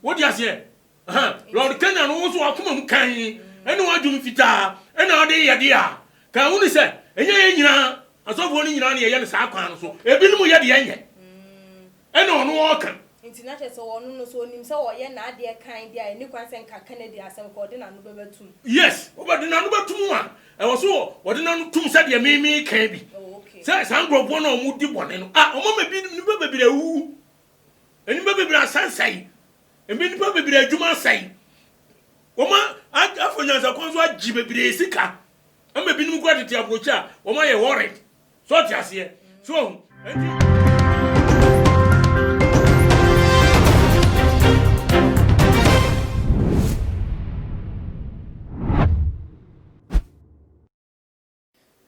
Wote aseɛ? Ahaa. Lord Canaan no wo nso w'akoma mu kann ne w'adwene fitaa na wode yɛ deɛ a, ka ahunu sɛ ɛnyɛ yɛn nyinaa, asɔfoɔ no nyinaa na yɛyɛ no saa kwan no so. Ebinom yɛ deɛ ɛnyɛ ɛna ɔno ɔɔka. Nti na kyerɛ sɛ ɔno no so ɔnim sɛ ɔɔyɛ n'adeɛ kann deɛ a ɛnni kwan sɛ nka Kennedy asɛm nka ɔde n'ano bɛba tum. Yes, ɔbɛde n'ano bɛtum a ɛwɔ so ɔde n'ano tum sɛdeɛ me meeka bi. Oh, okay. Sɛ saa nkurɔfoɔ no a wɔdi bɔne no, ah, wɔma me nnipa bebree awuwu. Nnipa bebree asan sɛe. Ebi nnipa bebree adwuma asɛe. Wɔn afa nyansakwan so agye bebree sika. Ama ebinom kura tete aburokyi a wɔn ayɛ worried. So ɔte aseɛ. So ɔho. Enti.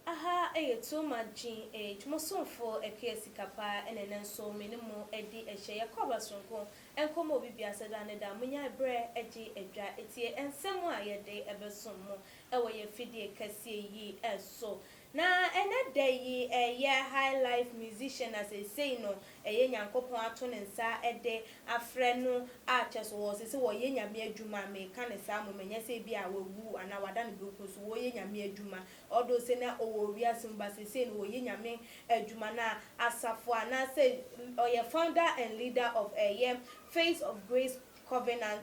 Aha ɛyɛ too much gyin eej mo somfo ɛkea sika paa ɛna ɛnɛ nso me ne mo adi ɛhyɛ yɛkɔ abasoronko ɛnkɔ ma obi biasa da ne da monyae brɛ ɛgye ɛdwa ɛtie ɛnsɛm a yɛde ɛbɛsom mo ɛwɔ yɛ fidie kɛseɛ yi ɛso na ɛnɛ da yi ɛyɛ high life musician na seisei no ɛyɛ Nyankopɔn ato ne nsa de afrɛ no a kyɛ so wɔse sɛ wɔyɛ Nyame adwuma, meka no saa mmom ɛnyɛ sɛ ebia wawu anaa wada ne benkun so, wɔyɛ Nyame adwuma although sɛ na ɔwɔ wiase mu but seesei no wɔyɛ Nyame adwuma na asafo anaasɛ ɔyɛ founder and leader of ɛyɛ Faith of Grace Covenant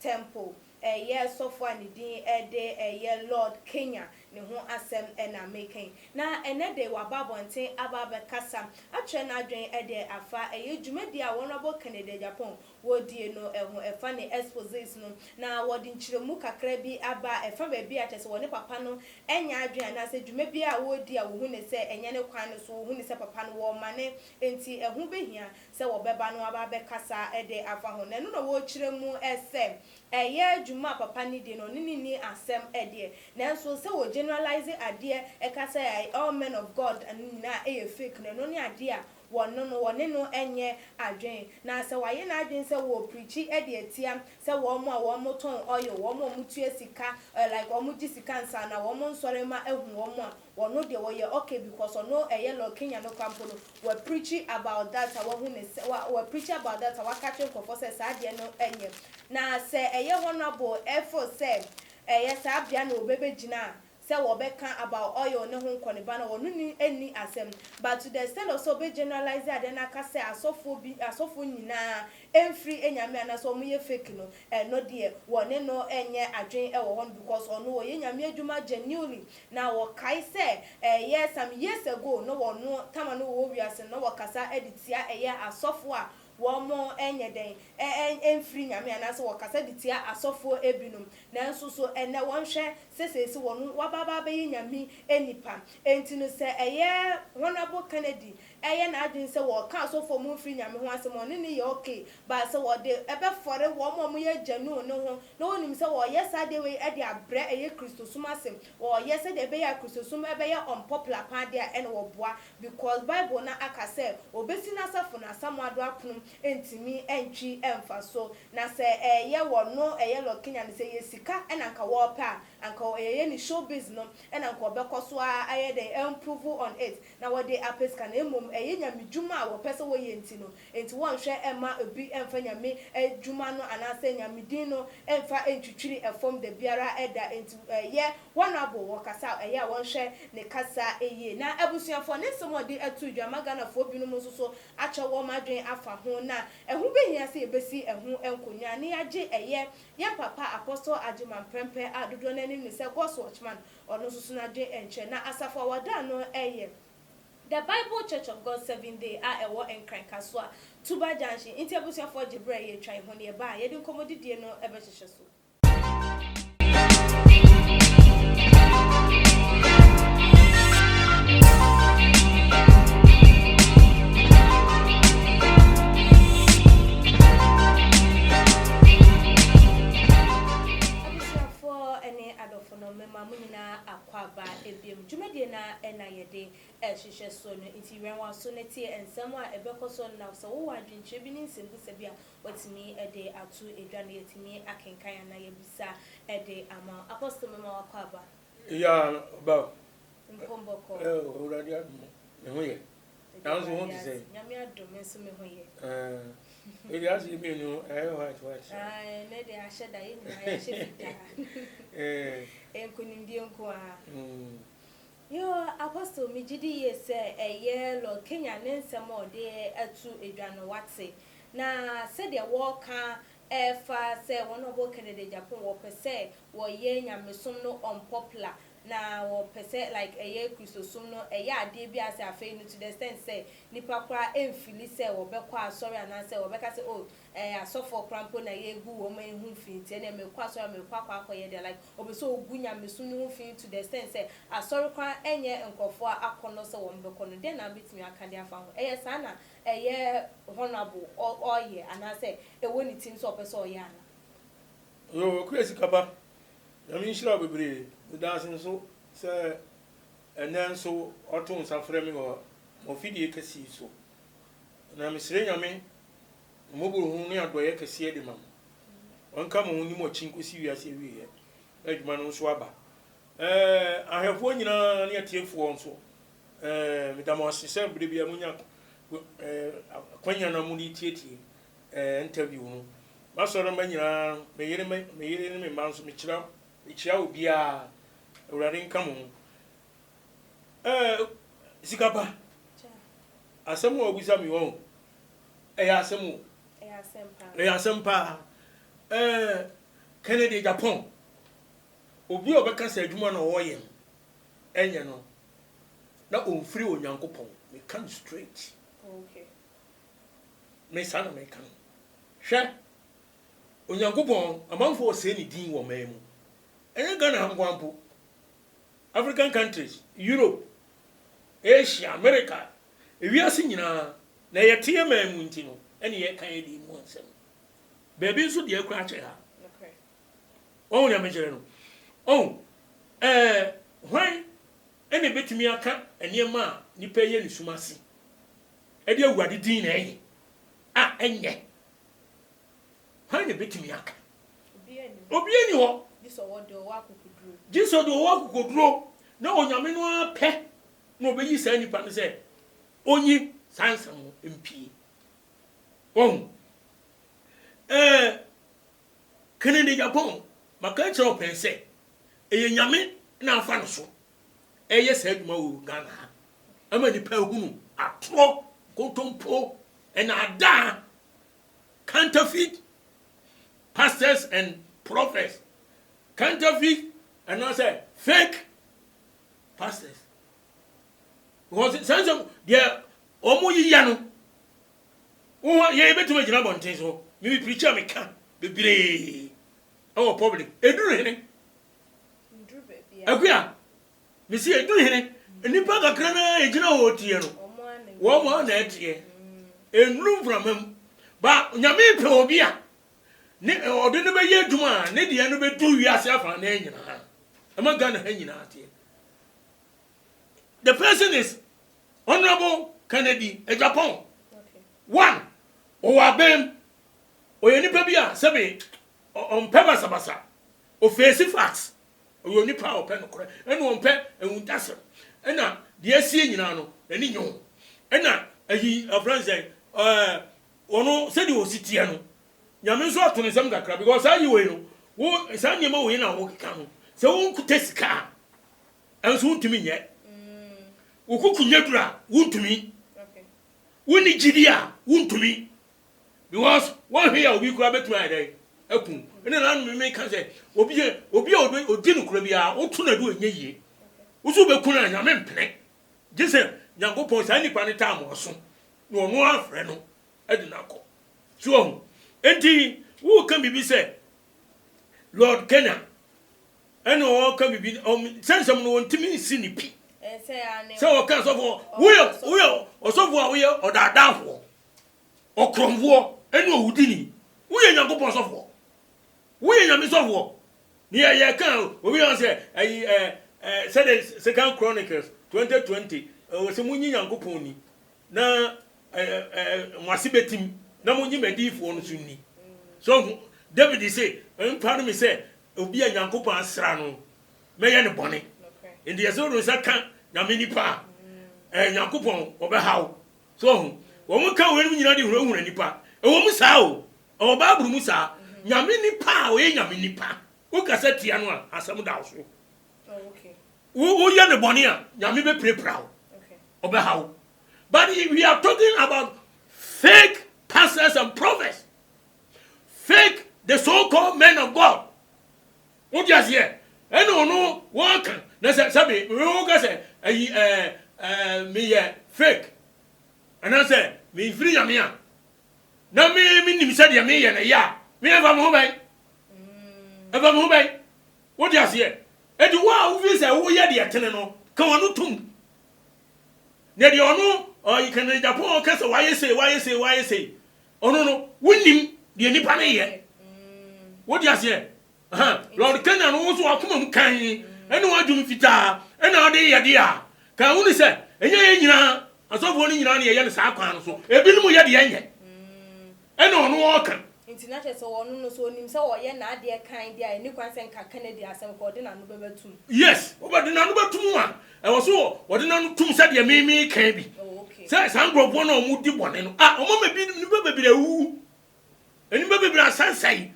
Temple, ɛyɛ sɔfo a ne din de ɛyɛ Lord Kenya ne ho asɛm na mereka yi. Na ɛnnɛ de waba abɔnten aba abɛkasa akyerɛ n'adwene de afa ɛyɛ dwumadi a Honourable Kennedy Agyapong wɔdie no ho ɛfa ne exposés no. Na wɔde nkyerɛmu kakra bi aba a ɛfa baabi a kyerɛ sɛ wɔne papa no anya adwene anaasɛ dwuma bi a wɔredi a wɔhu no sɛ ɛnyɛ ne kwan no so, wɔhu no sɛ papa no wɔremane nti ɛho bɛhia sɛ wɔbɛba no aba abɛkasa de afa ho. Na ɛno na wɔrekyerɛ mu sɛ ɛyɛ dwuma a papa no di no, ɔne no nni asɛm deɛ. Nanso sɛ wɔ generalise adeɛ ka sɛ all men of God no nyinaa yɛ fake no, ɛno ne adeɛ a wɔno no, wɔne no nyɛ adwene. Na sɛ wayɛ n'adwene sɛ wɔrepreachi de atia sɛ wɔn a wɔtɔn oil, wɔn a wɔtua sika, like wɔgye sika ansa na wɔn nsɔremma ahu wɔn a, Ɔno deɛ ɔyɛ ok because ɔno ɛyɛ lord Kenya no kwa mpo no wa preachi about that a wahu ne sɛ wa wa preachi about that a waka akyerɛ nkorɔfoɔ sɛ saa deɛ no ɛnyɛ na sɛ ɛyɛ honourable ɛfeel sɛ ɛyɛ saa bea na ɔbɛ bɛ gyina sɛ wɔbɛka about oil ne ho nkɔneba no ɔno ni ɛnni asɛm but to the extent of sɛ ɔbɛ generalise adeɛ no aka sɛ asɔfoɔ bi asɔfoɔ nyinaa ɛnfiri nyame anaasɛ wɔn yɛ fake no ɛno deɛ wɔne no ɛnyɛ adwene ɛwɔ hɔ no because ɔno ɔyɛ nyame adwuma genuinely Na wɔkae sɛ, Ɛyɛ some years ago na wɔno tama no wɔ wiase no na wɔkasa de tia ɛyɛ asɔfoɔ a wɔnyɛ dɛn, ɛmfiri Nyame anaasɛ wɔkasa de tia asɔfoɔ binom. Nanso so ɛnnɛ wɔnhwɛ sɛ seesei wɔno wɔaba abɛyɛ Nyame nnipa. Enti no sɛ ɛyɛ Honourable Kennedy ɛyɛ n'adwene sɛ wɔka asɔfoɔ mu mfiri Nyame ho asɛm a ɔne no yɛ ok but sɛ wɔde bɛfɔre wɔn a wɔyɛ gyanu no ho na wɔnim sɛ wɔyɛ saa adeɛ wei de abrɛ ɛyɛ Kristosom ase wɔyɛ sɛdeɛ ɛbɛyɛ a Kristosom bɛyɛ unpopular paa deɛ a ɛna wɔboa because Bible no aka sɛ ɔbɛsi n'asafo no asamoa do apono ntumi ntwi mfa so na sɛ ɛyɛ wɔno ɛyɛ lɔkenya no sɛ ɛyɛ sika na anka wɔpɛ a anka ɛyɛ ne showbiz no na anka ɔbɛkɔ so ara ayɛ dɛn amprove on it na wɔde apɛ sika na mmom ɛyɛ Nyame dwuma a wɔpɛ sɛ wɔyɛ nti no, enti wɔnhwɛ mma obi mfa Nyame dwuma no anaasɛ Nyame din no mfa ntwitwiri fam da biara da, enti ɛyɛ honourable wɔ kasa a ɛyɛ a wɔnhwɛ ne kasa yie. Na abusuafoɔ ne nsɛm a wɔde ato dwa ma Ghanafoɔ binom nso so akyɛ wɔn adwene afa ho, na ɛho bɛhia sɛ yɛbɛsi ɛho nkonnwa na yɛagye ɛyɛ yɛn papa Apostle Agyeman Prempeh a dodoɔ no anim ne sɛ God's Watchman Ɔno nso so n'adwene ɛnkyerɛ. Na Asafo a wɔdan no yɛ The Bible Church of God Seventh Day a ɛwɔ Nkran Kasoa, Tuba Junction. Nti abusuafoɔ gye berɛ a yɛretwa yi ho no yɛba a, yɛde nkɔmmɔdidie no bɛhyehyɛ so. no mema mo nyinaa akwaaba biom. Dwumadie no ara na yɛde rehwehwɛ soɔ no nti wɛn w'aso na tie nsɛm a ɛbɛkɔ soɔ no na sɛ wowɔ adwenkyerɛ bi ne nsɛmbusa bi a watumi de ato dwa no yɛatumi akenkan anaa yɛabisa de ama wo. Apostle mema w'akwaaba. Yaa ba o. Nkɔmbɔkɔ. Ɛ o Awurade adom o, me ho yɛ. Ɛdeɛ Nanso ho te sɛ. Nyame adom nso me ho yɛ. Ɛɛ, ɛdi ase mmienu ɛyɛ white white. Ae, ne deɛ ahyɛ da, yɛ nyinaa yɛahyɛ fitaa. Ɛɛ. Nkunimdie nko ara. Mm. Yoo, Apostle, me gyidi yie sɛ ɛyɛ Lord Kenyan ne nsɛm a ɔde atu dwa no wate. Na sɛdeɛ wɔɔka Ɛfa sɛ wɔn a wɔbɔ Kennedy Agyapong wɔpɛ sɛ wɔyɛ nyamesom no unpopular na wɔpɛ sɛ like ɛyɛ Kristosom no ɛyɛ adeɛ bi a sɛ afei no to the extent sɛ nnipa koraa ɛnfili sɛ wɔbɛkɔ asɔre anaasɛ wɔbɛka sɛ oh ɛɛ asɔfoɔ koraa mpo na yɛgu wɔn man ho fi nti ɛneɛ merekɔ asɔre a merekɔ akɔ akɔyɛ deɛ like wɔpɛ sɛ wɔgu nyamesom no ho fi to the extent sɛ asɔre koraa ɛnyɛ nkorɔfoɔ akɔnnɔ sɛ wɔbɛkɔ no dɛn na wobɛtumi aka de afa ho ɛyɛ saa na ɛyɛ honourable ɔ ɔɔyɛ anaasɛ ɛwɔ ne tirim sɛ ɔpɛ sɛ ɔyɛ ana. Yoo okura sika pa. Nyame nhyira wo bebree. Medaase nso sɛ ɛnnɛ nso wato nsa frɛ me wɔ m'afidie kɛse yi so. Na mesrɛ Nyame mmɔborɔhunu ne adɔeɛ kɛseɛ de ma mo. Ɔnka mo ho nni mo akyi nkɔsi wiase awieɛ na adwuma no nso aba. Ɛɛ ahwɛfoɔ nyinaa ne atiefoɔ nso Eh, meda mo ase sɛ berɛ biara monya eh, akwanya na mode tietie eh, interview no. M'asɔre mma nyinaa, me yere, me, me yere ne me mma nso, mekyira, mekyira obiara. Awurade nka mo ho. Eh, sika ba, asɛm a ɔbusa me wɔn, ɛyɛ asɛm o. Ɛyɛ asɛm paa. Eh, Kennedy Japan, obi a ɔbɛka sɛ adwuma na ɔyɛ no, ɛnyɛ no. na ɔnfiri Onyankopɔn. Meka no straight. Me saa na meka no. Hwɛ, Onyankopɔn, amanfoɔ ɔsɛe ne din wɔ man mu. Ɛnyɛ Ghana ha nkoa mpo. African countries, Europe, Asia, America, ewiase nyinaa, na yɛte yɛ man mu nti no, ɛne yɛka yɛ din mu nsɛm. Baabi nso deɛ akura akyɛ ha. Wahu nyamekyerɛ no? Ɔhu. Ɛɛ, hwan na ebetumi aka nneɛma a nnipa reyɛ ne sum ase? Ɛde Awurade din na ɛyɛ, a ɛnyɛ. Hwan na ebetumi aka? Obiara nni hɔ. Gye sɛ ɔde ɔwɔ akokoduro. Gye sɛ ɔde ɔwɔ akokoduro, na Onyame no ara pɛ na ɔbɛyi saa nipa no sɛ ɔnyi saa nsɛm no mpue. Wahu? Ɛɛ. Kennedy Agyapong, Maka akyerɛ wo pɛn sɛ, ɛyɛ Nyame na afa no so ɛreyɛ saa adwuma wɔ Ghana ha ama nnipa ahunu atorɔ, nkontompo, nnaadaa, counterfeit pastors and prophets, counterfeit anaasɛ fake pastors. Because saa nsɛm deɛ wɔn yiyɛ no Wo ho yɛn bɛtumi agyina abɔnten so. Me me preacher me ka bebree ɛwɔ public. Ɛduru hene? Akuya, me se ɛduru hene? Nnipa kakra na ɛgyina hɔ teɛ no. Wɔn mo na ɛteɛ. Ɛnuru mframa mu. Ba nyame pɛ obi a ne ɔde no bɛyɛ adwuma a ne deɛ no bɛduru wiase afa na nyinaa. Ɛma Ghana ha nyinaa teɛ. The person is Honourable Kennedy Agyapong, one, ɔwɔ abɛɛm, ɔyɛ nipa bi a sɛbe ɔmpɛ basabasa, ɔfeesi facts, ɔyɛ onipa a ɔpɛ nokorɛ, ɛna ɔmpɛ awuntasɛm, ɛna deɛ asie nyinaa no n'ani nye ho, ɛna ayi afrɛ no sɛn ɛɛ ɔno sɛdeɛ ɔsi teɛ no nyame nso ato ne nsam kakra because saa ayi wei no wo saa nneɛma wei na wokeka no sɛ wonkutɛ sika a Nanso wontumi nyɛ. Wo koko nyɛ duru a, wontumi. Wonni gyidi a, wontumi. Because woanhwɛ yie a, obi koraa bɛtumi ayɛ dɛn? Aku wo. Ɛnna na me meka sɛ, obi a obi a ɔdi nokorɛ biara, woto no adu a, ɛnyɛ yie. Wo sɛ wobɛku no a, Nyame mpene. Gye sɛ Nyankopɔn, saa nipa no taa mo aso, na ɔno ara afrɛ no de no akɔ. So woahu? Enti woreka biribi sɛ Lord Kenner. Ɛna ɔka bibi sɛ nsɛm no wɔntumi nsi ne pi sɛ wɔka sɔfo woyɛ woyɛ ɔsɔfo a woyɛ ɔdaadaafoɔ ɔkorɔmfoɔ ɛne owudini woyɛ nyankopɔn sɔfoɔ woyɛ nyame sɔfoɔ ne yɛyɛ ka obi yɛ sɛ ayi ɛ ɛ sɛde second chronicles 2020 ɛwɔ sɛ monyi nyankopɔn ni na ɛ ɛ mo ase bɛtim na monyi madiyifoɔ no so ni sɔfo david se mpare me sɛ Obi a Nyankopɔn asra no, mɛyɛ no bɔne. Nti yɛse wode wo nsa ka Nyame nipa a, ɛɛ Nyankopɔn ɔbɛha wo. So wahu? Wɔn ka weinom nyina de hunahuna nipa. Ɛwɔ mu saa o, ɛwɔ Bible mu saa. Nyame nipa a ɔyɛ Nyame nipa, wo kasa tia no a, asɛm da wo so. Wo, wo yɛ no bɔne a, Nyame bɛpirapira wo. Ɔbɛha wo. But we are talking about fake pastors and prophets. Fake the so called men of God wote aseɛ ɛna ɔno wɔka na sɛ sɛbe woka sɛ ayi ɛɛ ɛɛ meyɛ fake anaasɛ mefiri nyame a na me menim sɛ deɛ meyɛ no yɛ a meyɛ fa me ho bɛn ɛfa me ho bɛn wote aseɛ ɛti wo a wofi sɛ woyɛ deɛ tene no ka wɔno tom na deɛ ɔno ɔyi kanadapɔn ɔka sɛ wayɛ sei wayɛ sei wayɛ sei Ɔno no, wonnim deɛ nnipa no yɛ. Wode aseɛ? Aha, Lord Kenya no wo nso wakoma mu kann ɛne w'adwene fitaa ɛna ɔde yɛ deɛ a, kaa wuni sɛ ɛnyɛ yɛn nyinaa asɔfoɔ no nyinaa na yɛyɛ no saa kwan no so. Ebinom yɛ deɛ ɛnyɛ ɛna ɔno ɔɔka. Nti na kyerɛ sɛ ɔno no so ɔnim sɛ ɔɔyɛ n'adeɛ kann deɛ a ɛnni kwan sɛ nka Kennedy asɛm koraa ɔde n'ano bɛba tum. Yes, ɔbɛde n'ano bɛtum a Ɛwɔ so wɔ wɔde no ano tum sɛdeɛ me me kan bi sɛ saa nkurɔfoɔ no a wɔn di bɔne no a wɔn ama bi nipa bebree awuwu nipa bebree asansɛe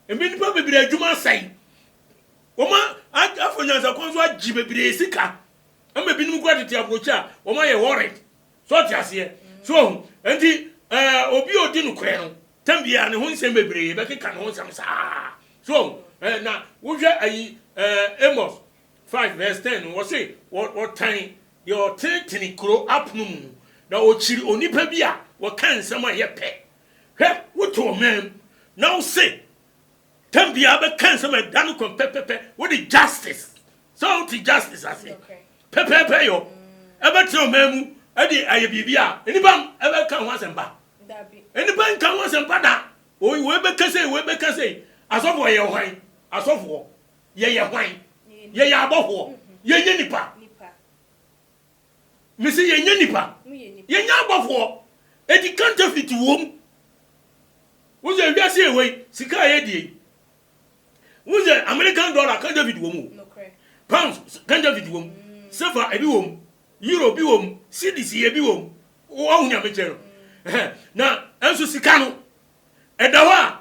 ebi nipa bebree adwuma asɛe wɔn afɔ nyansakwan so agye bebree sika ama ebinom kura tete aburokyi a wɔn ayɛ worried so ɔte aseɛ so ɔho nti ɛɛ obi a odi no korɛ no tɛm biara ne ho nsɛm bebree bɛkeka ne ho nsɛm saa so ɔho ɛɛ na wohwɛ ayi ɛɛ amos Five vs ten no, wɔse wɔtan deɛ ɔtenetene kuro apono mu, na ɔkyiri onipa bi a ɔka nsɛm a ɛyɛ pɛ. Hwɛ, wote ɔman mu na wose tam biara bɛka nsɛm a ɛda no kɔn pɛpɛpɛ, wode justice, sɛ wote justice ase pɛpɛpɛ yɔ, ɛbɛtena ɔman mu de ayɛ biribi a nnipa ɛbɛka ho asɛmpa? Nnipa nka ho asɛmpa da, wei bɛka sei, wei bɛka sei, asɔfoɔ yɛ hwan? Asɔfoɔ. Yɛyɛ hwan? Yɛyɛ abɔhoɔ. Yɛnyɛ nnipa. Mese yɛnyɛ nnipa. Yɛnyɛ abɔhoɔ. Enti counterfeit wom. Wohu sɛ wiase yɛ wei, sika a yɛdie yi. Wohu sɛ American dollar counterfeit wom o. Pounds counterfeit wom. Sefa ebi wom. Euro bi wom. Cedis ebi wom. Woahu nyamekyerɛ no. Na nso sika no, ɛda hɔ a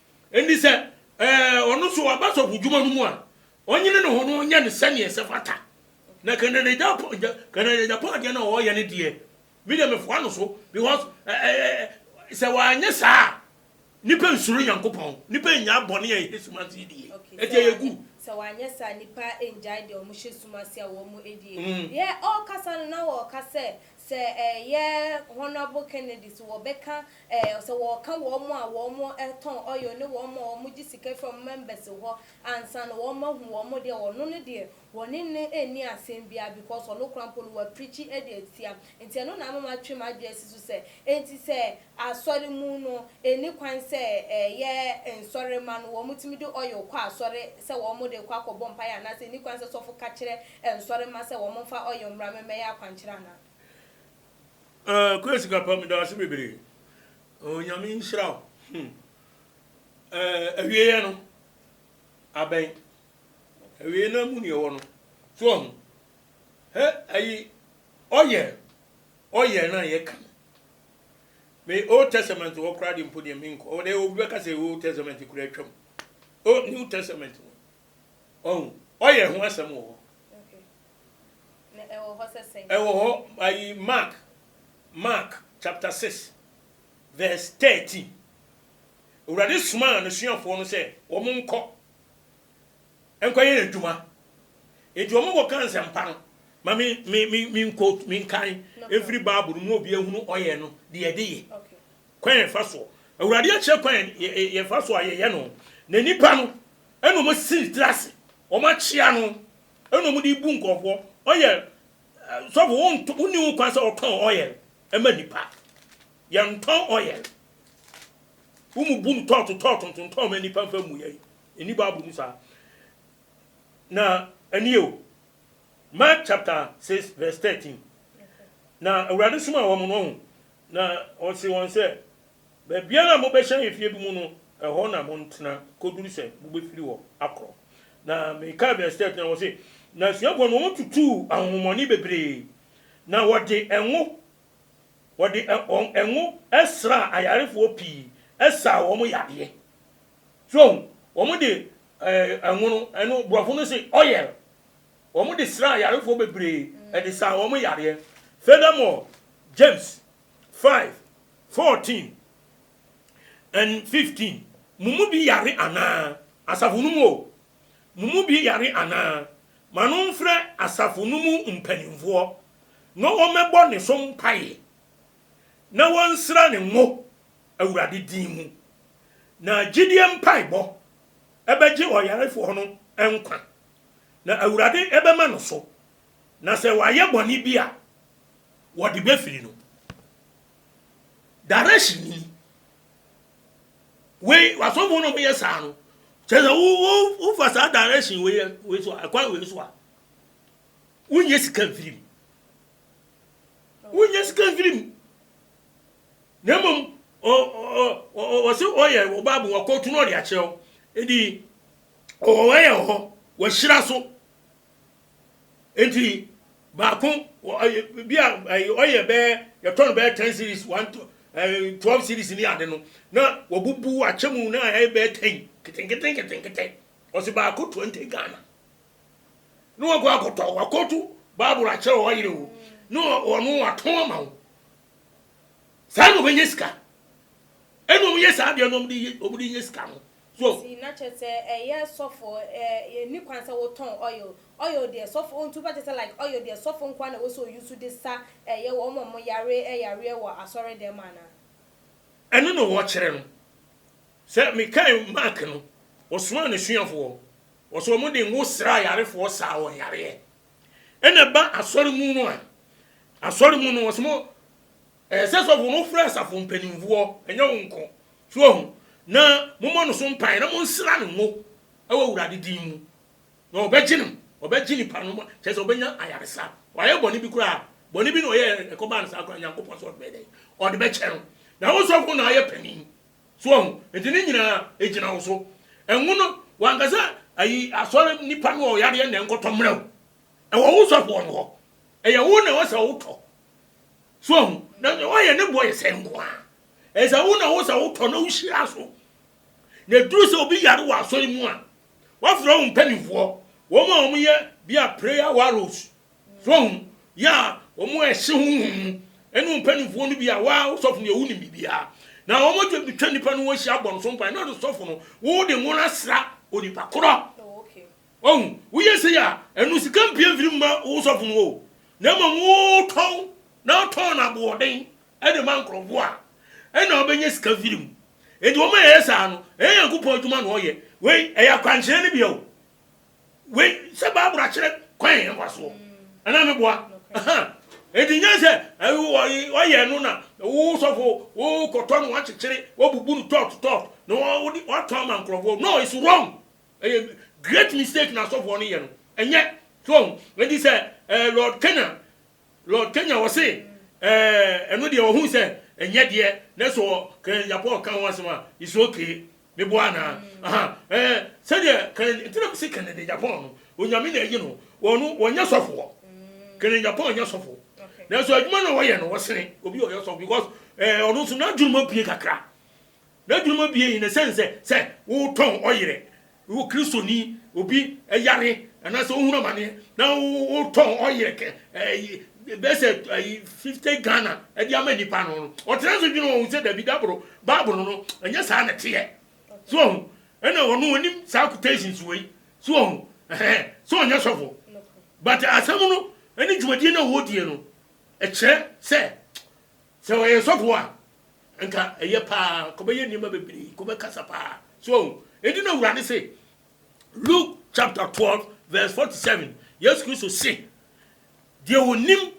Enti sɛ ɔno nso ɔba sɔfodwuma no mu a, ɔnyene ne ho na ɔnyɛ no sɛdeɛ ɛsɛ fata. Na Canada Japan Canada Japan adeɛ no a ɔreyɛ no deɛ, me deɛ mefoa no so because sɛ wanyɛ saa a, nipa nsuro Nyankopɔn, nipa nnyaa bɔne a ɛhyɛ sum ase die. Ɛti ɛyɛ good. Sɛ wanyɛ saa a, nipa nnyae deɛ wɔhyɛ sum ase a wɔyɛ die. Deɛ ɔrekasa no na ɔreka sɛ Sɛ ɛyɛ Honourable Kennedy so wɔbɛka ɛɛ sɛ wɔɔka wɔn a wɔn tɔn oil ne wɔn a wɔn gye sika firi wɔn members hɔ ansa no wɔn ahu wɔn deɛ ɔno no deɛ wɔne no nni asɛm biara because ɔno koraa mpo no wa preachi ɛde atia nti ɛno na ama matwe m'adwene asi so sɛ ɛnti sɛ Asɔre mu no, ɛnni kwan sɛ ɛyɛ nsɔremma no wɔtumi de oil kɔ asɔre sɛ wɔde rekɔ akɔbɔ mpaeɛ anaa sɛ ɛnni kwan sɛ sɔfo ka kyerɛ nsɔremma sɛ wɔmfa oil mmra mɛmmɛyɛ akwankyerɛ anaa. Ahh Kwesi Kappa meda wo ase bebree Onyame nhyira wo hmm eh awieɛ no abɛn awieɛ no amu na yɛwɔ no so wahu hɛ ayi oil oil no a yɛka no Me old testament hɔ koraa de mpo deɛ menkɔ ɔwɔ dɛ obi bɛka sɛ old testament koraa atwam o new testament no ɔhu ɔyɛ ho asɛm wɔ hɔ ɛwɔ hɔ ayi mark mark chapter 6 verse 13 awurade somaa n'asuafoɔ no sɛ wɔn nkɔ nkɔyɛ adwuma. Enti wɔkɔka nsɛmpa no ma me me me me quote me nkan mfiri Bible no mu obi ahunu ɔyɛ no deɛ yɛde yɛ kwan a yɛfa soɔ Awurade akyerɛ kwan yɛ yɛfa so a yɛyɛ no na nipa no ɛna wɔn si tiri ase wɔn akyea no ɛna wɔn de bu nkurɔfoɔ ɔyɛ sɔfo wɔn nto wɔn ni wɔn kwan sɛ wɔtɔn ɔyɛ ɛma nipa yɛntɔn ɔyɛ wɔn mu bu no tɔɔto tɔɔto ntontɔn ma nipa nfa mu yɛ. Enni Bible mu saa. Na ɛne o, Mark chapter six verse thirteen, Na Awurade somaa wɔn, no ho, na ɔsee wɔn sɛ, Baabiara a mobɛhyɛn efie bi mu no, ɛhɔ na montena koduru sɛ mobɛfiri hɔ akorɔ. Na mekae verse thirteen a wɔse, Na asuafoɔ no wɔtutuu ahonhommɔne bebree, na wɔde ngo, wɔde ngo sraa ayarefoɔ pii, saa wɔn yadeɛ. So wɔde eh, nwono, ɛno borɔfo no se oil, wɔde sraa ayarefoɔ bebree, ɛde saa wɔn yareɛ. Furthermore, James five, fourteen and fifteen, Mo mu bi yare anaa? Asafo no mu o, mo mu bi yare anaa? Ma no mfrɛ asafo no mu mpanimfoɔ na wɔmmɛbɔ ne so mpaeɛ na wɔnsra ne ngo. Awurade din mu. Na gyidie mpaebɔ bɛgye ɔyarefoɔ no nkwa, na Awurade bɛma no so, na sɛ wayɛ bɔne bi a, wɔde bɛfiri no. Direction ni. Wei, asɔfoɔ no wɔyɛ saa no, kyerɛ sɛ wo, wo, wofa saa direction wei, wei so a, ɛkwan wei so a, wonyɛ sika mfiri mu. Wonyɛ sika mfiri mu. Na mmom ɔ ɔ ɔ ɔ ɔse ɔyɛ wɔ Bible mu wakɔɔtu na ɔde akyerɛ wo. Enti ɔwɔ hɔ yɛ wɔ hɔ wahyira so. Enti baako wɔ ɛyɛ bi a ɛyɛ ɔyɛ bɛɛ yɛtɔ no bɛɛ ten series one to ɛɛ twelve series ne ade no na wabubu akyɛ mu na ɛyɛ bɛɛ ten ketenkete nketenkete ɔse baako twenty Ghana na wakɔ akɔtɔ wakɔɔtu Bible akyerɛ wɔ ɔyere wo na ɔno watɔn ama wo Saa na wɔbɛnya sika. Ɛna wɔn yɛ saa adeɛ no wɔn de yɛ wɔn de nya sika no. So. Nti na kyɛ sɛ ɛyɛ sɔfo ɛɛ yɛn ni kwan sɛ wotɔn oil oil deɛ sɔfo ontu ba kyɛ sɛ like oil deɛ sɔfo nkoa na ɛwɔ sɛ oyi so de sa ɛyɛ wɔn a wɔn yare ɛyareɛ wɔ asɔre dɛm ana. Ɛno na wɔkyerɛ no sɛ me kae Mark no ɔsomaa ne suafoɔ ɔsɛ wɔn de ngo sra ayarefoɔ saa wɔn yareɛ. Ɛna ɛba asɔre mu no a, asɔre mu no wɔsɛ mo ɛɛ sɛ sɔfo no frɛ asafo mpanimfoɔ, ɛnyɛ wo nko. So ahu? Na mommɔ no so mpaeɛ na monsra no ngo wɔ Awurade din mu. Na ɔbɛgye no, ɔbɛgye nipa no, kyerɛ sɛ ɔbɛnya ayaresa. Wayɛ bɔne bi koraa a, bɔne bi na ɔyɛɛ ɛkɔbaa no saa koraa a, Nyankopɔn sɛ ɔde bɛyɛ dɛn? Ɔde bɛkyɛ no. Na wo sɔfo na ayɛ panin. So wahu? Enti ne nyinaa egyina wo so. Ɛnwo no, wanka sɛ, Ayi, asɔre nipa no wɔ yadeɛ na ɛnkɔtɔ mmrɛ wo. Ɛwɔ wo sɔfoɔ no hɔ. Ɛyɛ wo na ɛwɔ sɛ wotɔ. So wahu? Na nea wayɛ ne boɔ yɛ sɛn nko ara. Ɛyɛ sɛ wo na ɛwɔ sɛ wotɔ na wohyira so. Na ɛduru sɛ obi yare wɔ asɔre mu a, wɔafrɛ wo mpanimfoɔ, wɔn a wɔyɛ bia prayer warriors Fɔn yɛ a wɔn a ɛhye honhom mu ne wɔn mpanimfoɔ no bi a waa wo sɔfo deɛ wonim biribiara. Na wɔbɛtwa nnipa no ho ahyia abɔ no so mpae na wɔde sɔfo no wode ngo no asra onipa korɔ. Wahu? Woyɛ sei a, ɛno sika mpue mfiri mma wo sɔfo no o, na mmom wotɔn na wotɔn no aboɔden de ma nkurɔfoɔ a ɛna wobɛnya sika firi mu. Enti wɔn a ɛyɛ saa no, ɛnyɛ Nyankopɔn adwuma na wɔyɛ. Wei, ɛyɛ akwankyerɛ no bi o. Wei sɛ Bible akyerɛ kwan yɛ mfa soɔ ɛna me boa ɛnti nyɛ sɛ wɔyɛ no na wo sɔfo wo kɔtɔ no wakyekyere wabubu no tɔt tɔt na watɔn ama nkurɔfoɔ no it's wrong ɛyɛ great mistake na asɔfoɔ no yɛ no ɛnyɛ so ɛnti sɛ eh, Lord Canaan Lord Kenya wɔ se eh ɛno deɛ ɔhuu sɛ ɛnyɛ deɛ nanso wɔ Karen Agyapong ɔka ho asɛm a it's ok meboa anaa ahaa eh sɛdeɛ Karen nti na mese Kennedy Agyapong no Onyame na ayi no ɔno ɔnyɛ sɔfoɔ Karen Agyapong nyɛ sɔfo nanso adwuma no a ɔyɛ no ɔsene obi a ɔyɛ sɔfo because eh ɔno nso n'adwurum abue kakra n'adwurum abue in a sense sɛ sɛ wotɔn ɔyerɛ Wowɔ Kristoni, obi yare anaasɛ ohunu amaneɛ na wotɔn ɔyerɛ kɛ ɛyi bɛyɛ sɛ ɛyi fifty Ghana ɛde ama nipa no no ɔtena so dwene wɔn sɛ dabi daboro baabolo no ɛnyɛ saa na ɛteɛ so wɔn ɛna wɔn wɔnim saa quotations wɔ yi so wɔn ɛhɛn so wɔn nyɛ sɔfo but asɛm no ɛne dwumadie na wɔdie no ɛkyerɛ sɛ Sɛ ɔyɛ nsɔfo a, anka ɛyɛ paa, anka ɔbɛyɛ nneɛma bebree, anka ɔbɛkasa paa. So wahu? Enti na Awurade se, Luke chapter twelve verse forty seven, Yesu Kristo se, Deɛ ɔnim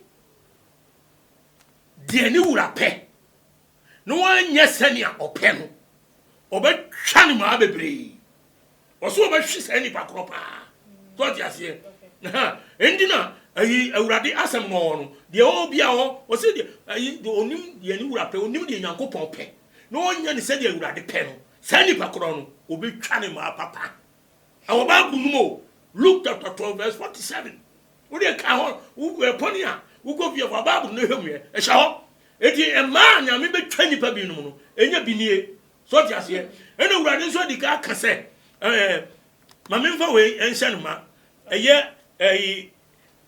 deɛ ne wura pɛ na wanyɛ sɛnea ɔpɛ no, ɔbɛtwa ne mmaa bebree. Ɔsɛ ɔbɛhwe saa nipa korɔ paa. So ɔte aseɛ? Aha, ɛndi na ayi Awurade asɛm no ɔɔ no, deɛ ɔɔ bia ɔɔ, ɔsɛ deɛ ayi, deɛ ɔnim deɛ ne wura pɛ, ɔnim deɛ Nyankopɔn pɛ, na ɔnyɛ no sɛdeɛ Awurade pɛ no, saa nipa korɔ no, ɔbɛtwa ne mmaa papa. Ɛwɔ Bible no mu o, Luke chapter 12 verse 47. Wodeɛ ka hɔ, wo wura pɔne a, wokɔ fie a, fa Bible no hwɛ mu ɛ, ɛhyɛ hɔ. Enti mmaa a Nyame bɛtwa nipa binom no, ɛnyɛ bi nie, So wote aseɛ? Ɛna Awurade nso adi ka aka sɛ, ɛɛ, ma memfa wei nhyɛ no ma. Ɛyɛ ɛyi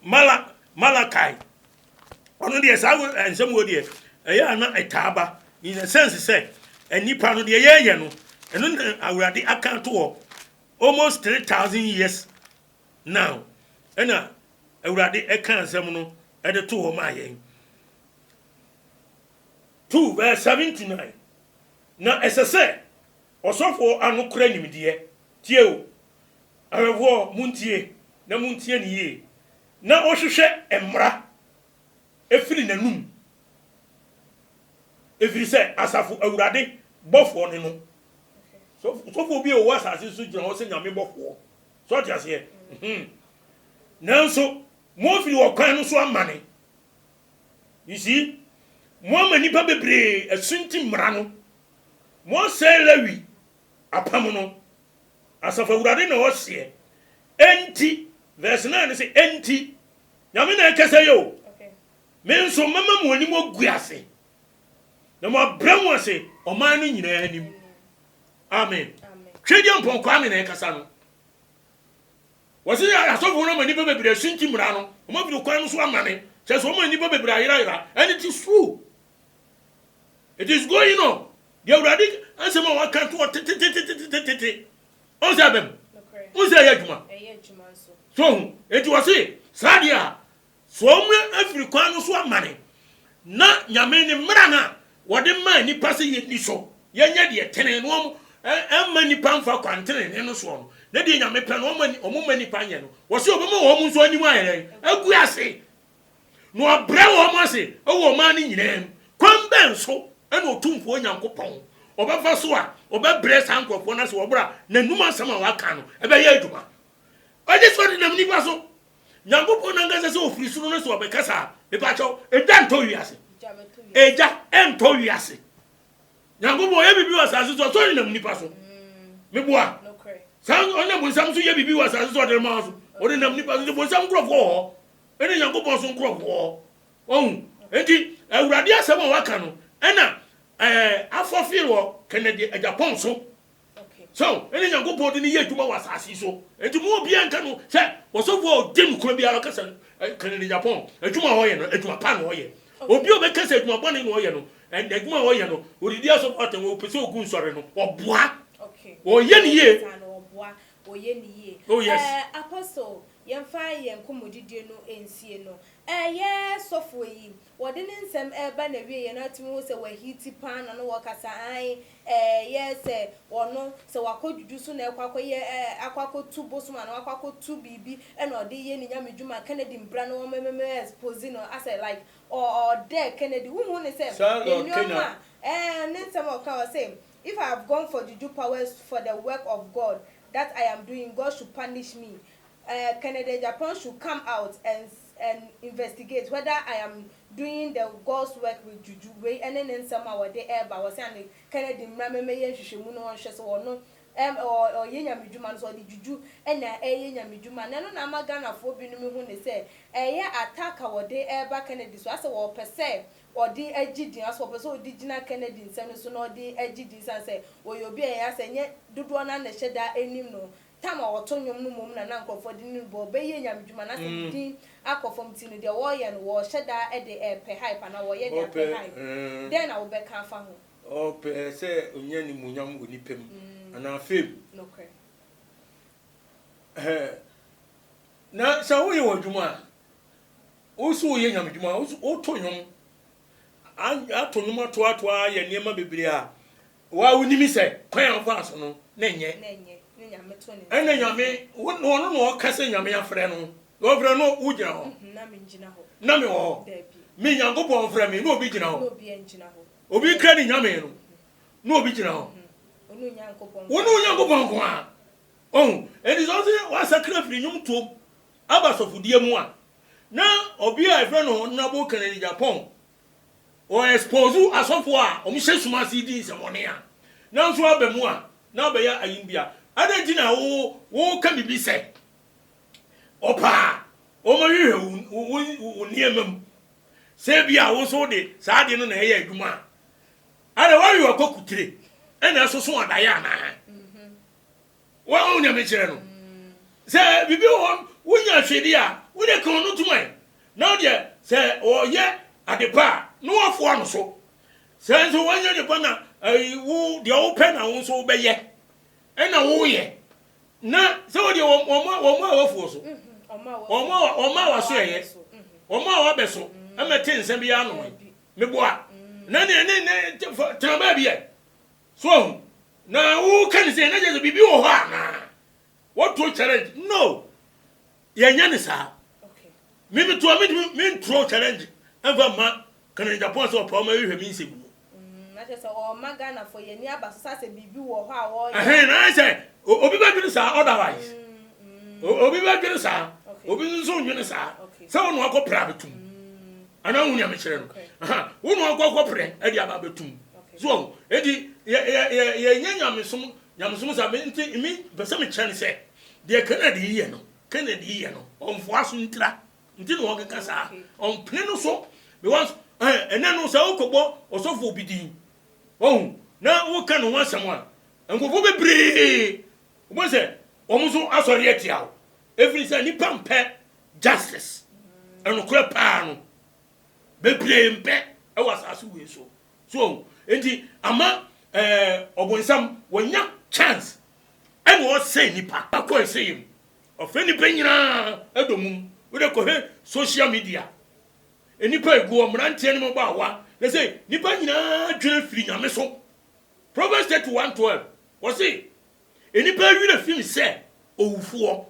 Mala Malakai. Ɔno deɛ saa nsɛm wɔ deɛ ɛyɛ a na ɛtaa ba. In the sense sɛ, nnipa no deɛ yɛyɛ no, ɛno na Awurade aka ato hɔ almost 3000 years now. Ɛna Awurade ɛka nsɛm no ɛde to hɔ maa yɛn. 2 vs 79 Na ɛsɛ sɛ ɔsɔfoɔ ano kora nimdeɛ. Tie o, awɛmfoɔ, montie, na montie no yie, na ɔnhwehwɛ mmara mfiri n'anom, ɛfiri sɛ Asafo Awurade bɔfoɔ ne no. So sɔfoɔ bi a ɔwɔ asase so gyina hɔ sɛ Nyame bɔfoɔ? So ɔte aseɛ? Nanso, moafiri ɔkwan no so amane, You see? Moama nnipa bebree asunti mmara no. Moasɛe Lewi apam no. Asafo Awurade na ɔseɛ. Enti, verse nine no se, Enti, Nyame na ɛkasa yi o, Me nso mɛma mo anim agu ase, na moabrɛ mo ase ɔman no nyinaa anim. Amen. Twedeampɔn Kwame na ɛkasa no. Wɔse asɔfoɔ no ama nnipa bebree asunti mmara no, wɔn afiri kwan no so amane, kyerɛ sɛ wɔn a nnipa bebree ayerayera, and it is true. It is going on. Deɛ Awurade asɛm a waka to hɔ tetetetetetete, ɔhu sɛ ɛbɛm, ɔhu sɛ ɛyɛ adwuma, so ɔhu, enti wɔse saa deɛ a, Foɔ mu afiri kwan no so amane, na Nyame ne mmara no a wɔde maa nnipa sɛ yɛnni so, yɛnyɛ deɛ ɛtene, na wɔn ɛmma nnipa mfa kwan tenenee no soɔ no, ne deɛ Nyame pɛ no wɔn mma nnipa nyɛ no, wɔse wɔbɛma wɔn nso anim ayɛ dɛn? agu ase, na wɔabrɛ wɔn ase wɔ ɔman no nyinaa mu, kwan bɛn so na Otumfoɔ Nyankopɔn ɔbɛfa so a ɔbɛbrɛ saa nkorɔfoɔ no ase wɔ berɛ a N'anum asɛm a wɔaka no ɛbɛyɛ adwuma? Ɔgye sɛ ɔdenam nnipa so Nyankopɔn nankasa sɛ ofiri soro no so ɔbɛkasa a, mepakyɛw, egya ntɔ wiase. Egya ɛntɔ wiase. Nyankopɔn ɔyɛ biribi wɔ asase so a, so ɔnenam nipa so? Mm. Meboa. Saa ɔnenam bonsam so yɛ biribi wɔ asase so ɔde ma so. Ɔnenam nipa so, nti bonsam nkurɔfoɔ wɔ hɔ, ɛne Nyankopɔn so nkurɔfoɔ wɔ hɔ. Ɔhu? Enti, Awurade asɛm a waka no, ɛna ɛɛ afɔfeere wɔ kɛnɛdeɛ agyapɔn so. So ɛne Nyankopɔn de no yɛ adwuma wɔ asase yi so? Enti mo obiara nka no sɛ ɔsɔfo a ɔde nokorɛ biara ɔkasa no kane ne Japan adwuma a ɔyɛ no adwuma pa na ɔyɛ. Obi a ɔbɛka sɛ adwuma bɔne na ɔyɛ no ɛnna adwuma a ɔyɛ no ɔdidi asɔfo atɛn wɔ ɔpɛ sɛ ɔgu nsɔre no ɔboa ɔyɛ no yie. Oh yes. Eh Apostle yɛmfa yɛn nkɔmmɔdidie no nsie no. Eh yɛ sɔfoɔ yi Wɔde ne nsɛm reba n'awieeɛ no, atumi hu sɛ wahiti paa na na wɔkasa ae, ɛɛyɛ sɛ ɔno, sɛ wakɔ dwudwu so na ɛkɔ akɔyɛ ɛɛ akɔ akɔtu bosom anaa wakɔ akɔtu biribi na ɔde reyɛ ne nyamedwuma, Kennedy mbra no wɔmememe expose no asɛ like ɔ ɔdɛ Kennedy, wonhu no sɛ Saa na ɔka nneɛma a, ɛɛ ne nsɛm a ɔka, ɔse, If I have gone for juju powers for the work of God that I am doing, God should punish me, ɛɛ Kennedy Agyapong should come out and and investigate whether I am doing the God's work with juju wei ɛne ne nsɛm a wɔde ɛɛba hɔ sɛ ane Kennedy mmra mɛmɛyɛ nhwehwɛmu no wɔnhwɛ sɛ ɔno ɛm ɔ ɔyɛ nyamedwuma no sɛ ɔde juju ɛna ɛɛyɛ nyamedwuma na ɛno na ama Ghanafoɔ binom ehu ne sɛ ɛɛyɛ attack a wɔde ɛɛba Kennedy so asɛ wɔɔpɛ sɛ ɔde agye din asɛ wɔɔpɛ sɛ ɔde gyina Kennedy nsɛm no so na ɔde agye din sane sɛ ɔyɛ obi a ɛyɛ asɛ nyɛ dodoɔ no ara na ɛhyɛ da ɛnim no Tam a ɔto nnwom no mmom na na nkurɔfoɔ de no rebɔ bɛ yie nyamedwuma na sɛ ne din akɔ fam nti no deɛ wɔreyɛ no wɔrehyɛ da de repɛ hype anaa wɔreyɛ de apɛ hype. Dɛn na wobɛka afa ho? Ɔpɛ sɛ ɔnya animuonyam wɔ nnipa mu anaa fame. Nokorɛ. Ɛhɛɛ. Na sɛ woyɛ w'adwuma a, wo nso woyɛ nyamedwuma, woto nnwom. ato nnwom atoatoa ayɛ nneɛma bebree a wo a wonim sɛ kwan a wofaa so no na ɛnyɛ ɛna nyame ɔno na ɔka sɛ nyame afrɛ no na ɔfrɛ no wogyina hɔ na mewɔ hɔ me nyankopɔn frɛ me na obi gyina hɔ obi kra ne nyame no na obi gyina hɔ wo ne onyankopɔn nko a ɔhu ɛnti sɛ ɔse wasakra firi nnwom tuom aba sɔfodeɛ mu a Na obi a yɛfrɛ no Honorable Kennedy Agyapong, ɔ expose asɔfo a wɔn hyɛ sum ase di nsɛmɔne a nanso aba mu a na abɛyɛ ayembia. Adɛn nti na wo wo ka biribi sɛ ɔpɛ a wɔn hwehwɛ wo wo wo wo nneɛma mu sɛ ebi a wo nso wode saa adeɛ no na ɛyɛ adwuma a? Adɛn wawe w'akɔkutire ɛna ɛsoso adaeɛ anaa? Woahu nea mekyerɛ no? Sɛ biribi wɔ hɔ, wonya hwɛdi a, wo deɛ ka ɔno tom ɛ. Na wo deɛ, sɛ ɔyɛ ade pa a, na woafoa no so. Sɛ nso wanyɛ ade pa na wo deɛ wopɛ na wo nso wobɛyɛ, ɛnna woyɛ, na sɛ wo deɛ wɔn a woafoɔ so, wɔn a wɔasoɛeɛ, wɔn a wɔabɛso mmɛte nsɛm biara ano ɛ. Meboa. Na ne ne ne tena baabi ɛ. So wahu? Na woka ne sɛ na kyerɛ sɛ biribi wɔ hɔ anaa? Wotuo challenge? No, yɛnyɛ ne saa. Me metuo a mentumi mentuo challenge ɛmfa mma Kanani Japan sɛ ɔpɛ ɔma ɛhwɛ me nsɛm mu. Mm, na kyerɛ sɛ wɔma Ghanafoɔ yɛn ani aba so sɛ asɛ biribi wɔ hɔ a wɔyɛ. Ɛhɛn, na ayɛ sɛ obi bɛdwene saa otherwise. Mm, mm. Obi bɛdwene saa, obi nso ndwene saa sɛ wɔn na wakɔpere abɛtum. Mm. Ana wo nea mekyerɛ no? Aha, wo na ɔkɔ kɔprɛ ɛde aba abɛtum. So ɔho, enti yɛnyɛ nyamesom, nyamesom sa, nti me pɛ sɛ mekyerɛ no sɛ, deɛ Kennedy yɛ no, Kennedy yɛ no, ɔmfoa so ntira, nti na ɔkeka saa, ɔmpene no so, because ɛnɛ no sɛ wokɔbɔ ɔsɔfo bi din, ɔho, na woka ne ho asɛm a, nkurɔfoɔ bebree, wobɛhu sɛ wɔn nso asɔre atia wo, ɛfiri sɛ nnipa mpɛ Justice, Nokorɛ paa no, bebree mpɛ wɔ asase wei so. So wahu? Enti ama eh, ɔbonsam wanya chance ɛna ɔsɛe nipa. Akɔ ɛsɛyɛ mu. Ɔfrɛ nipa nyinaa ɛdɔ mum. Wode kɔhwɛ social media, nnipa ɛguɔ, mmeranteɛ ne mmabaawa, na sɛ nipa nyinaa dwene firi Nyame so. Proverbs 31:12, wɔse, Nnipa werɛ fi me sɛ owufoɔ.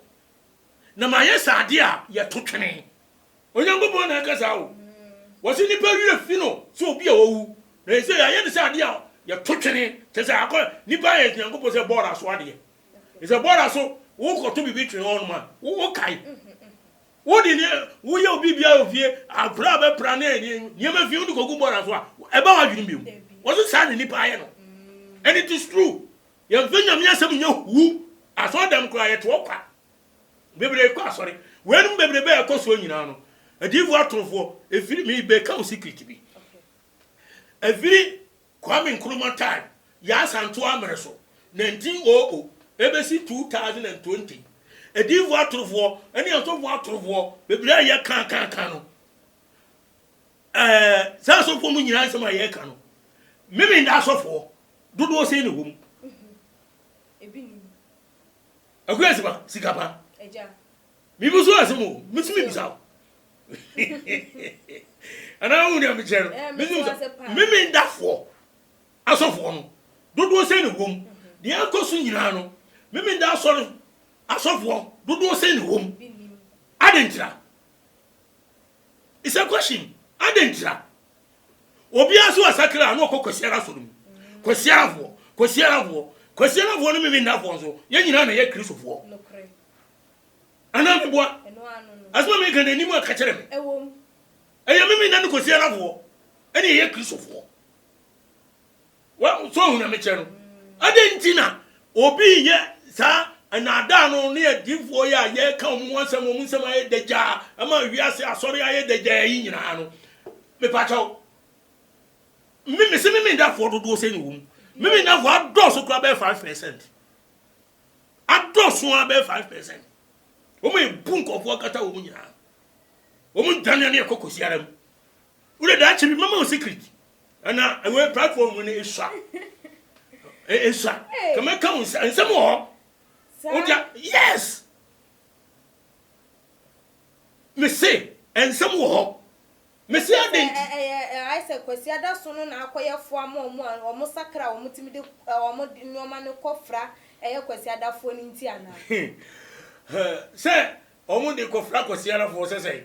na mayɛ sɛ adeɛ a yɛto twene. Onyankopɔn na ɛka saa o. Wɔse nnipa werɛ fi no sɛ obi a wawu, na seesei yɛayɛ no sɛ adeɛ a yɛto twene, kyerɛ sɛ akɔ, nnipa ayɛ Nyankopɔn sɛ bɔɔla so adeɛ. Sɛ bɔɔla so, wokɔto biribi twene hɔ nom a, wokae. Wode ne, woyɛ obi biara wɔ fie, akwadaa a bɛpra ne nneɛma fie, wode kɔgu bɔɔla so a, ɛba w'adwenem bio. Wɔse saa na nnipa ayɛ no. And it is true. Yɛmfa Nyame asɛm nyɛ hu. Asɔɔdɛm koraa yɛte hɔ kwa. Bebree kɔ asɔre. Weinom bebrebe a ɛkɔ soɔ nyinaa no, adiyifoɔ atorofoɔ, ɛfiri, me bɛka wo secret bi, ɛfiri Kwame Nkrumah time, Yaa Santo Amere so, 1900, ɛbɛsi 2020, adiyifoɔ atorofoɔ ne asɔfoɔ atorofoɔ bebree a yɛ ka ka ka no, ɛɛ, saa asɔfoɔ mu nyinaa nsɛm a yɛ ka no, me me nda asɔfoɔ, Dodoɔ sɛn na ɛwɔ mu? Ebi nni mu. Akua sima, sika pa. Agya. Mebuso wo asɛm o, metumi bisa wo? Anaa wohu nea mekyerɛ no? Eh, Metumi bisa wo? Memendafoɔ asɔfoɔ no, dodoɔ sɛn na ɛwɔ mu? Deɛ ɛkɔ so nyinaa no, Memenda asɔre asɔfoɔ, dodoɔ sɛn na ɛwɔ mu? Adɛn ntira? It's a question adɛn ntira obiara so asakra na ɔkɔ kwasiara so no mu kwasiara foɔ kwasiara foɔ kwasiara foɔ no mimi nna foɔ nso yɛn nyinaa na yɛ kristo foɔ anaa meboa asoma mi ka na anim aka kyerɛ me ɛyɛ mimi nna no kwasiara foɔ ɛne yɛ kristo foɔ Wo nso hu nyamekyerɛ no? Adɛn nti na obi reyɛ saa nnaadaa no ne adiyifoɔ yi a yɛreka wɔn ho asɛm, wɔn nsɛm ayɛ dagyaa, ɛma wiase asɔre ayɛ dagyaa yi nyinaa no? Mepakyɛw, me mese Memendafoɔ dodoɔ sɛn na ɛwɔ mu? Memendafoɔ adɔɔso koraa bɛyɛ five percent. Adɔɔso ara bɛyɛ five percent. Wɔn a ebu nkɔfoɔ akata wɔn nyinaa. Wɔn dwane ne ɛkɔ kɔsiara mu. Wo de daakye bi mɛma wo secret. Ɛna ɛwɛ platform mu no esua. Esua. Kama ka wo nsɛm wɔ hɔ. Wogya yes. Me se nsɛm wɔ hɔ. Me se adan ti. Ɛyɛ ayɛ sɛ Kwasi Adaso no na akɔyɛ foa ma wɔn a wɔn sakra wɔn timi de wɔn nneɛma no kɔfra ɛyɛ Kwasi Adafoɔ no nti anaa? Sɛ wɔn de kɔfra Kwasi Adafoɔ sɛ sɛn?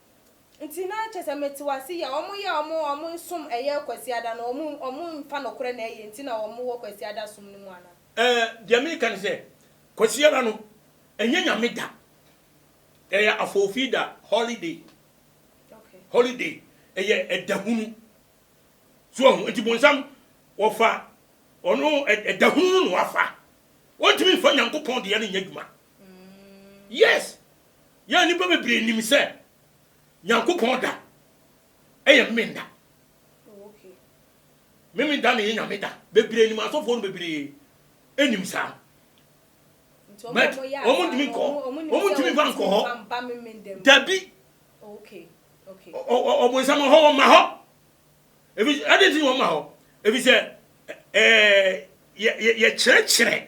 Nti na kyerɛ sɛ metew ase yie a wɔn yɛ a wɔn wɔn nsom ɛyɛ kwasiada no wɔn wɔn nfa nokorɛ na ɛyɛ nti na wɔn wɔ kwasiada som no mu anaa. Ɛɛ deɛ meka ne sɛ kwasiada no ɛnyɛ nyame da ɛyɛ afoofi da holiday holiday ɛyɛ ɛda hunu so wahu nti bonsam wɔfa ɔno ɛda hunu no na wafa wɔntumi nfa nyankopɔn deɛ no nyɛ adwuma Yes! Yɛ a nnipa bebree nim sɛ Nyankopɔn da yɛ Memenda. Memenda na ɛyɛ Nyame da. Bebree nim, asɔfoɔ no bebree nim saa. But wɔn ntumi nkɔ hɔ. Wɔn ntumi mfa nkɔ hɔ. Dabi. Ɔbonsam hɔ wɔn ma hɔ. Ebi ɛde nti wɔn ma hɔ. Ebi sɛ ɛɛ yɛ yɛ yɛkyerɛkyerɛ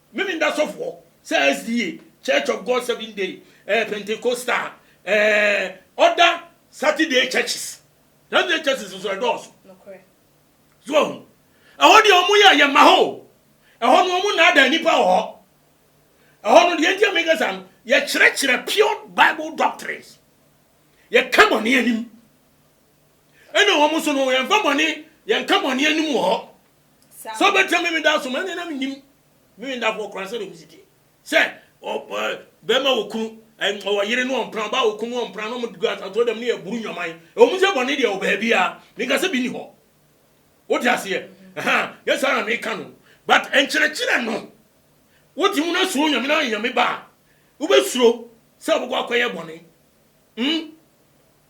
Me me da sɔfoɔ sɛ SDA, Church of God Seven Day eh, Pentecostal eh, other Saturday churches. Saturday churches nso ɛdɔɔso. So ahu. Ɛhɔ deɛ wɔn yɛ yɛ ma hɔ o. Ɛhɔ no wɔn naadaa nipa wɔ hɔ. Ɛhɔ no deɛ nti a meka saa no, yɛkyerɛkyerɛ pure Bible doctrines. Yɛka bɔne anim. Ɛna wɔn nso no yɛnfa bɔne yɛnka bɔne anim wɔ hɔ sɛ ɔbɛtena me meda so ma ɛne na menim me mendafoɔ koraa sɛdeɛ ɔmu siteɛ sɛ bɛma wɔ kunu ɔwɔ yere ne ɔmpena ɔba wɔ kunu ɔmpena na ɔmde gu asatoɔ dɛm ne yɛ buru nnwaman ɛwɔmu sɛ bɔne deɛ wɔ baabia menka sɛ bi ni hɔ wote aseɛ yɛ saa na meka no but nkyerɛkyerɛ no wote mu no suro nyame na ayɛ nyame ba a wobɛsuro sɛ wobɛkɔ akɔyɛ bɔne mm?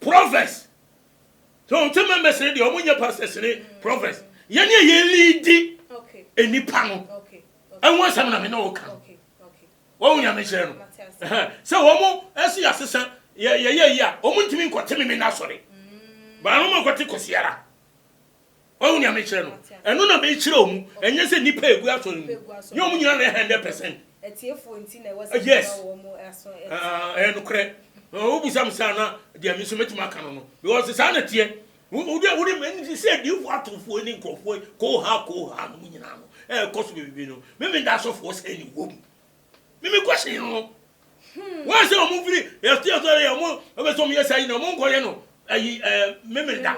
Prophets So wo te members no deɛ ɔmo nyɛ pastors ne prophets yɛne a yɛ leadi nnipa no ɛho asɛm na me ne wo ka no wɔn nyame kyerɛ no sɛ wɔn ɛso yɛ asesa yɛyɛ yi a wɔn ntumi nkɔte me me na sɔre baa no ma nkɔte kɔsiara Wahu nea mekyerɛ no? Ɛno na mekyerɛ wɔn, ɛnyɛ sɛ nnipa a egu asɔre mu nyɛ wɔn nyinaa na ɛyɛ hundred percent. Yes, ɛyɛ nokorɛ. Wobisa me saa na deɛ me nso mɛtumi aka no no, because saa na teɛ. Wode wode mɛni sɛ diifoɔ atofoɔ ne nkurɔfoɔ koohaa koohaa no mu nyinaa no ɛrekɔ so bebrebe no, me meda asɔfoɔ sɛ ne wɔ mu. Me me question no no. Wɔn sɛ wɔn mfiri yɛte asɔre yɛ wɔn ɛbɛ sɛ wɔn yɛ saa yi na wɔn nkɔyɛ no ayi ɛɛ me meda.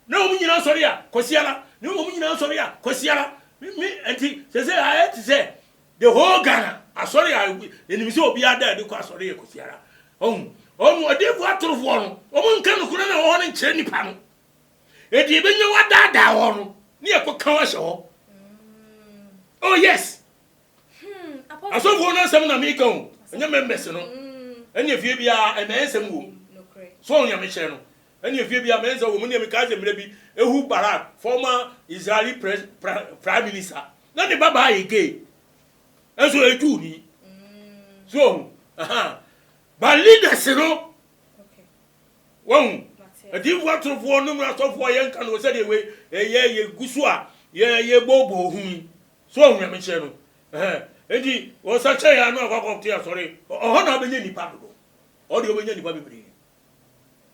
Na wɔn nyinaa sɔre a, Kwasiara. Na wɔn nyinaa sɔre a, Kwasiara. Me, me, ɛnti, sɛsɛ ayɛ te sɛ the whole Ghana asɔre a yɛnim sɛ obiara da adi kɔ asɔre yɛ Kwasiara. Ɔhu, ɔmu, ɔdiyifo atorofoɔ no, wɔn nka nokora no a ɛwɔ hɔ no nkyerɛ nipa no. Ɛdi ɛbɛnya wadaadaa hɔ no, ne yɛ kɔ ka hɔ ahyɛ hɔ. Oh yes! Asɔfoɔ no asɛm na meka o, ɛnyɛ members no. Ɛne ɛfie biara, ɛmɛɛnsɛm wɔ mu. So ɔhu nyamekyerɛ no. Ɛnneɛ fie biara mɛnsɛ wɔ mu. Ɛnneɛ mekaa sɛ, Mmerɛ bi, Ehud Barak, former Israeli pres, pra, Prime Minister, na ne babaa yɛ gay, nso ɔyɛ Jewni. So wahu? Aha. But leaders no, wahu, adiyifoɔ atorofoɔ nom no asɔfoɔ, yɛnka no sɛdeɛ wei, ɛyɛ yɛgu so a, yɛ, yɛbooboo ho yi. So wahu Nyamekyerɛ no? Aha. Enti, ɔsakyɛeɛ a na wakɔ akɔte asɔre, ɔ, ɔhɔ na ɔbɛnya nnipa dodo. Ɔhɔ deɛ ɔbɛnya nnipa bebree.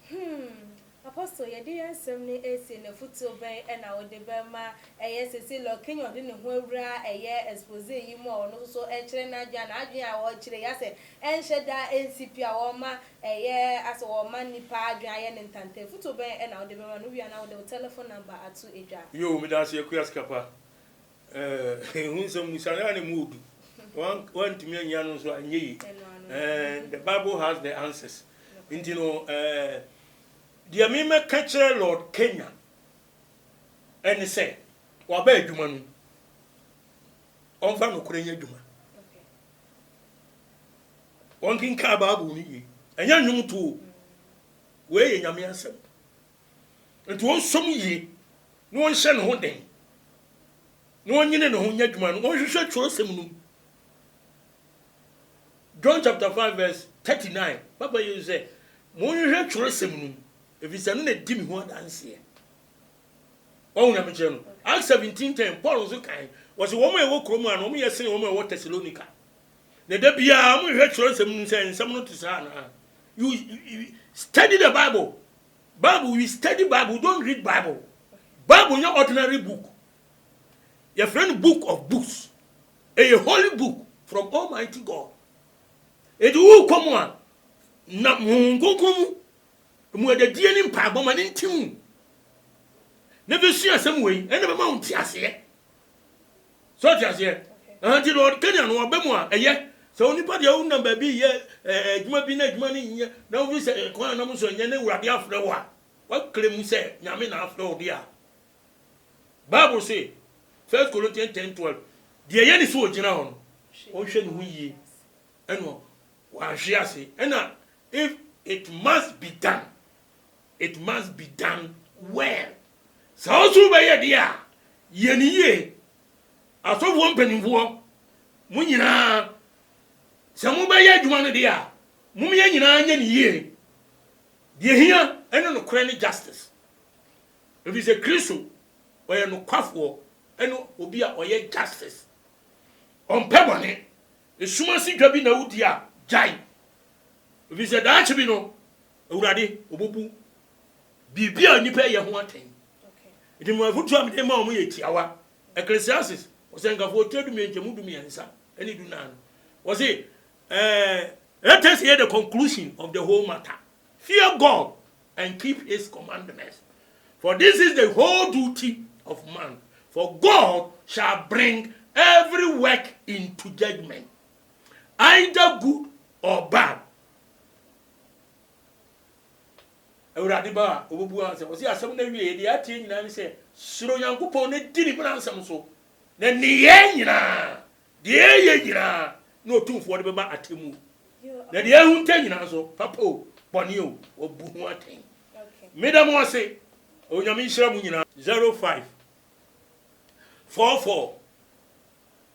Hmm, Apostle, yɛde yɛn nsɛm no resi no, afotuo bɛn na wode bɛma? Ɛyɛ seesei Lord Kenyon de ne ho awura ɛyɛ exposé yi mu a ɔno nso so rekyerɛ n'adwene a n'adwene a ɔrekyerɛ yi asɛ ɛnhyɛ da nsi pi a ɔrema ɛyɛ asɛ ɔrema nnipa adwene ayɛ no ntanta. Afotuo bɛn na wode bɛma no? Wowie a na wode wo telephone number ato dwa. Yoo, medaase Akua Sikapa. Eh ehu nsɛm mu saa na mu odu wan wantumi anyia no nso anyɛ yi eh the bible has the answers nti no eh deɛ me mɛka kyerɛ lord kenya ɛne sɛ waba adwuma no ɔmfa nokorɛ nyɛ adwuma wɔnkenkaa bible no yie ɛnyɛ nnwom too wei yɛ nyame asɛm Enti ɔnsɔ mu yie na ɔnhyɛ ne ho den na ɔnyene ne ho nyɛ adwuma no, ɔnhwehwɛ twerɛsɛm no mu. John chapter 5 verse 39, Papa Yesu sɛ, Monhwehwɛ twerɛsɛm no mu, ɛfiri sɛ ɛno na ɛdi me ho adanseɛ. Wɔn nyamekyerɛ no. Acts 17:10, Paul nso kae, wɔsi wɔn a ɛwɔ kurom ha no, wɔn yɛ sene wɔn a ɛwɔ Thessalonica. Na da biara wɔhwehwɛ twerɛsɛm no mu sɛ nsɛm no te saa anaa. You, you, you study the Bible Bible we study bible we don't read bible bible nyɛ ordinary book yɛfrɛ no book of books ɛyɛ holy book from almighty god ɛdi wo kɔ mu a na honhom kronkron mu mu adadie ne mpaebɔ ma ne nti mu na bɛsua asɛm wei ɛna bɛma wo nte aseɛ so ɔte aseɛ ɛhɛn nti no Kenya no ɔbɛ mu a ɛyɛ sɛ onipa deɛ wonam baabi yɛ adwuma bi na adwuma no nyɛ na wobi sɛ kwan a nam so nyɛ ne wurade afrɛ wo a wakle mu sɛ nyame na afrɛ wo deɛ a Bible se First Corinthians 10 12 deɛ yɛ ne so ɔgyina hɔ no ɔnhwɛ ne ho yie ɛno wanhwe ase ɛna if it must be done it must be done well. Sɛ wo nso wobɛyɛ deɛ a, yɛ no yie. Asɔfoɔ mpanimfoɔ, mo nyinaa, sɛ mobɛyɛ adwuma no deɛ a, mom yɛn nyinaa nyɛ no yie. Deɛ ɛhia ne nokorɛ ne justice. Ɛfiri sɛ Kristo, ɔyɛ nokwafoɔ ne obi a ɔyɛ justice. Ɔmpɛ bɔne. Sum ase dwa bi na wodi a, gyae. Ɛfiri sɛ daakye bi no, Awurade, wɔbɛbu biribi a nnipa yɛ ho atɛn. Nti mema afotuo a mede ma wɔn yɛ tiawa. Ecclesiastes, Ɔsɛnkafoɔ, tire dumien nkyɛmu dumiɛnsa ne dunan no, wɔse, eh, Let us hear the conclusion of the whole matter. Fear God and keep his commandments, for this is the whole duty of man. For God shall bring every work into judgment, either good or bad. Awurade ba a, ɔbɛbua no sɛ, ɔse asɛm no awieɛ, deɛ ateɛ nyinaa ne sɛ, suro Nyankopɔn na di ne mmaransɛm so, na nneyɛɛ nyinaa, deɛ ɛyɛ nyinaa, ne Ɔtumfoɔ de bɛba atemmuo, na deɛ ahunta nyinaa nso, papa o, bɔne o, wabu ho atɛn. Meda mo ase, Onyame nhyira mo nyinaa. 05 44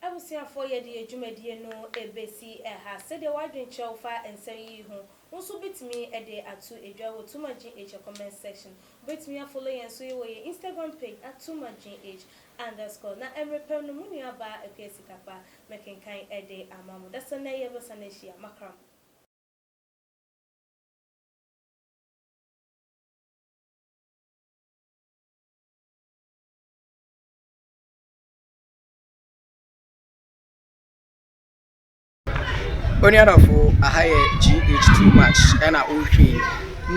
Abusuafoɔ yɛ de yɛ dwumadie no bɛsi ha. Sɛdeɛ w'adwene kyerɛ wo fa nsɛm yi ho, wo nso wobɛtumi de ato dwa wɔ TooMuchGH comment section. Wobɛtumi afollow yɛn nso wɔ yɛn Instagram page at TooMuchGH underscore. Na mmerɛ pɛ no, mo nua baa Akua Sikakpa mɛkenkan de ama mo. Dasani na yɛbɛsane ahyia. Makra mo. Onua dɔfo, aha yɛ GH too much ɛna wohwɛ yi.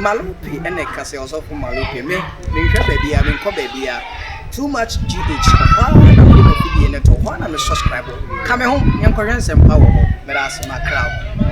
Malope ɛna ɛka sɛ ɔsɔfo Malope me menhwɛ baabi a menkɔ baabi a too much GH ɔhɔ a na mede mafidie no to hɔ a na me subscribe ka me ho yɛnkɔhwɛ nsɛmpa wɔ hɔ meda ase makra wo.